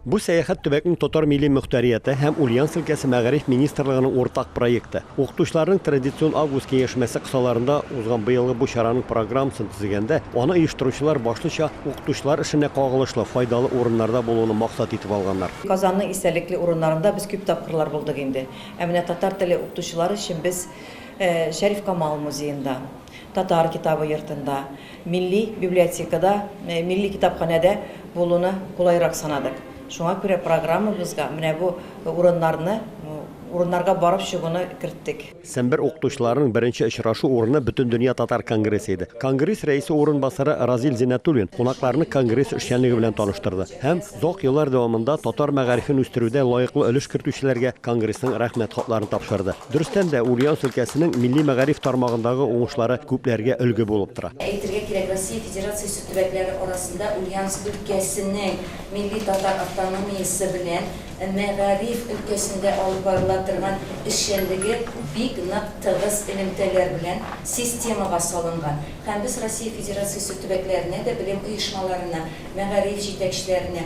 Бу сәяхәт төбәкнең татар милли мөхтәрияте һәм Ульяновск өлкәсе мәгариф министрлыгының уртак проекты. Укытучыларның традицион август киңәшмәсе кысаларында узган быелгы бу чараның программасын төзегәндә, аны оештыручылар башлыча укытучылар эшенә кагылышлы файдалы урыннарда булуны максат итеп алганнар. Казанның истәлекле урыннарында без күп тапкырлар булдык инде. Ә менә татар теле укытучылары өчен без Шәриф Камал музеенда, Татар китабы йортында, Милли библиотекада, милли китапханәдә булуны кулайрак санадык. Шуңа күрә программабызга менә бу урыннарны, урыннарга барып чыгуны керттек. Сембер укытучыларының беренче очрашу урыны Бөтендөнья татар конгрессы иде. Конгресс рәисе урынбасары Разил Зиннәтуллин кунакларны конгресс эшчәнлеге белән таныштырды һәм озак еллар дәвамында татар мәгарифен үстерүдә лаеклы өлеш кертүчеләргә конгрессның Рәхмәт хатларын тапшырды. Дөрестән дә, Ульяновск өлкәсенең милли мәгариф тармагындагы уңышлары күпләргә өлге булып тора. Әйтергә кирәк, Россия Федерациясе төбәкләре арасында Ульяновск өлкәсенең милли татар автономиясе белән мәгариф өлкәсендә алып барыла торган эшчәнлеге бик нык тыгыз элемтәләр белән системага салынган һәм без Россия Федерациясе төбәкләренә дә, белем оешмаларына, мәгариф җитәкчеләренә,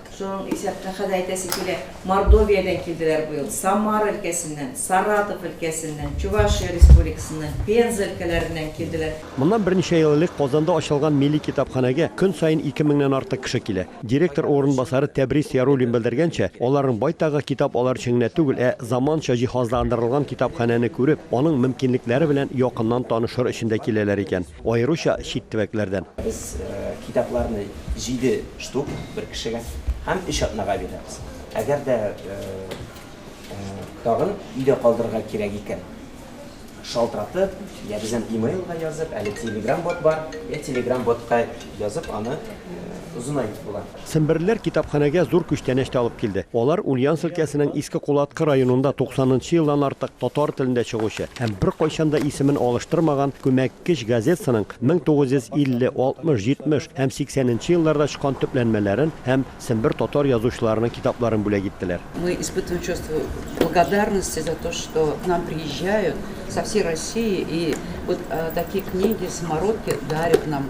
Шуның исәптән, хәзер әйтәсе килә, Мордовиядән килделәр быел, Самара өлкәсеннән, Саратов өлкәсеннән, Чувашия Республикасыннан, Пенза өлкәләреннән килделәр. Моннан берничә ел элек Казанда ачылган милли китапханәгә көн саен ике меңнән артык кеше килә. Директор урынбасары Тәбрис Яруллин белдергәнчә, аларның байтагы китап алыр өчен генә түгел, ә заманча җиһазландырылган китапханәне күреп, аның мөмкинлекләре белән якыннан танышыр өчен дә киләләр икән. Аеруча чит төбәкләрдән. Без китапларны җиде штук бер кешегә һәм өч атнага бирәбез. Әгәр дә тагын өйдә калдырырга кирәк икән, шалтыратып, йә безнең e-mail-га язып, әле телеграм-бот бар, йә телеграм-ботка язып аны озынайтып була. Семберлеләр китапханәгә зур күчтәнәч тә алып килде. Алар Ульяновск өлкәсенең Иске Кулаткы районында туксанынчы елдан артык татар телендә чыгучы һәм беркайчан да исемен алыштырмаган күмәккеч газетсының 1950, 60, 70 һәм 80 нче елларда чыккан төпләнмәләрен һәм сембер татар язучыларының китапларын бүләк иттеләр. Мы испытываем чувство благодарности за то, что к нам приезжают со всей России и вот такие книги, самородки дарят нам.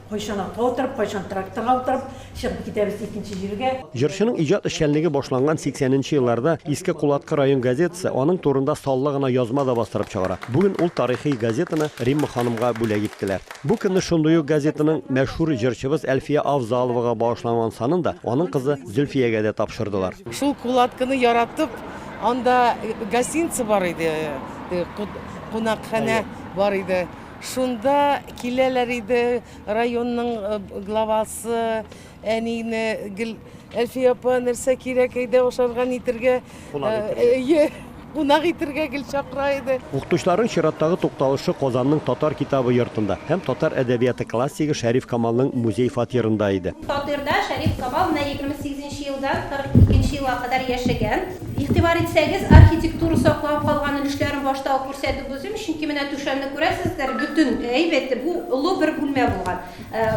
Кайчан атка утырып, кайчан тракторга утырып, чыгып китәбез икенче җиргә. Җырчының иҗат эшчәнлеге башланган 80 нче елларда Иске Кулаткы район газетасы аның турында саллы гына язма да бастырып чыгара. Бүген ул тарихи газетаны Римма ханымга бүләк иттеләр. Бу көнне шундый ук газетаның мәшһүр җырчыбыз Әлфия Авзаловага багышланган санын да аның кызы Зөлфиягә дә тапшырдылар. Шул Кулаткыны яратып, анда гостиница бар иде, кунакханә бар иде. Шунда киләләр иде районның главасы, әнине гел, Әлфия апа, нәрсә кирәк, әйдә ашарга, нитергә. Кунак итәргә. Әйе, кунак итәргә гел чакыра иде. Укытучыларның чираттагы тукталышы Казанның Татар китабы йортында һәм татар әдәбияты классигы Шәриф Камалның музей фатирында иде. Фатирда Шәриф Камал менә егерме сигезенче елдан кырык икенче елга кадәр яшәгән. Игътибар итсәгез, архитектура саклап калган өлешләрен башта ук күрсәтеп узыйм, чөнки менә түшәмне күрәсездер, бөтен әйбәте бу олы бер бүлмә булган,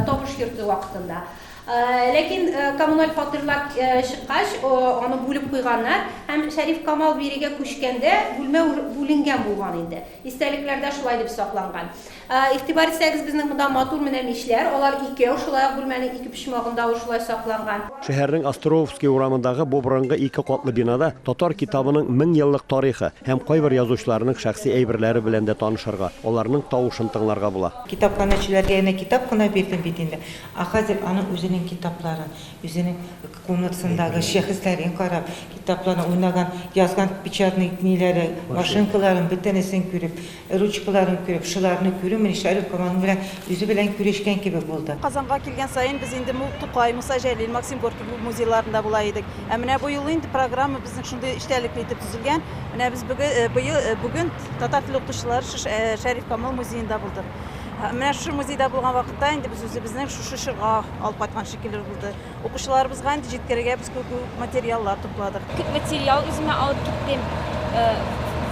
табыш йорты вакытында. Ләкин коммуналь фатирлар чыккач, аны бүлеп куйганнар һәм Шәриф Камал бирегә күчкәндә, бүлмә бүленгән булган инде. Истәлекләрдә шулай дип сакланган. Игътибар итсәгез, безнең монда матур менә мичләр, алар икәү, шулай ук бүлмәнең ике почмагында ул шулай сакланган. Шәһәрнең Островский урамындагы бу борынгы ике катлы бинада татар китабының мең еллык тарихы һәм кайбер язучыларның шәхси әйберләре белән дә танышырга, аларның тавышын тыңларга була. Китапханәчеләргә генә китап кына бирдем бит инде, ә хәзер аның үзенең китапларын, үзенең комнатасындагы шәхесләрен карап, китапларын, уйнаган, язган печатный ниләре, машинкаларын, бөтенесен күреп, Ручкаларын күреп, шуларны күрү менә Шәрүкова аның белән үзе белән күрешкән кебек булды. Казанга килгән саен без инде Мул Тукай, Муса Җәлил, Максим Горький музейларында була идек. Ә менә бу юлы инде программа безнең шундый эчтәлекле итеп төзелгән. Менә без бүген татар теле укытучылары Шәриф Камал музеенда булдык. Менә шушы музейда булган вакытта инде без үзебезнең шушы чорга алып кайткан шикелле булды. Укучыларыбызга инде җиткерергә без күп материаллар тупладык. Күп материал үземә алып киттем. Э,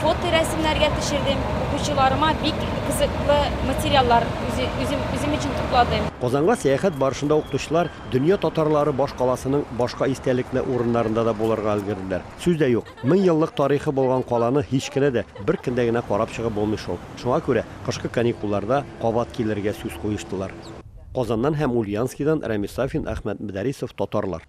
фото рәсемнәргә төшердем. Укучыларыма бик кызыклы материаллар үзем, үзем өчен тупладым. Казанга сәяхәт барышында укытучылар дөнья татарлары баш каласының башка истәлекле урыннарында да булырга өлгерделәр. Сүз дә юк, мең еллык тарихы булган каланы һич кенә дә бер көндә генә карап чыгып булмый шул. Шуңа күрә кышкы каникулларда кабат килергә сүз куештылар. Казаннан һәм Ульянскидан Рәмис Сафин, Әхмәт Мөдәрисов, татарлар.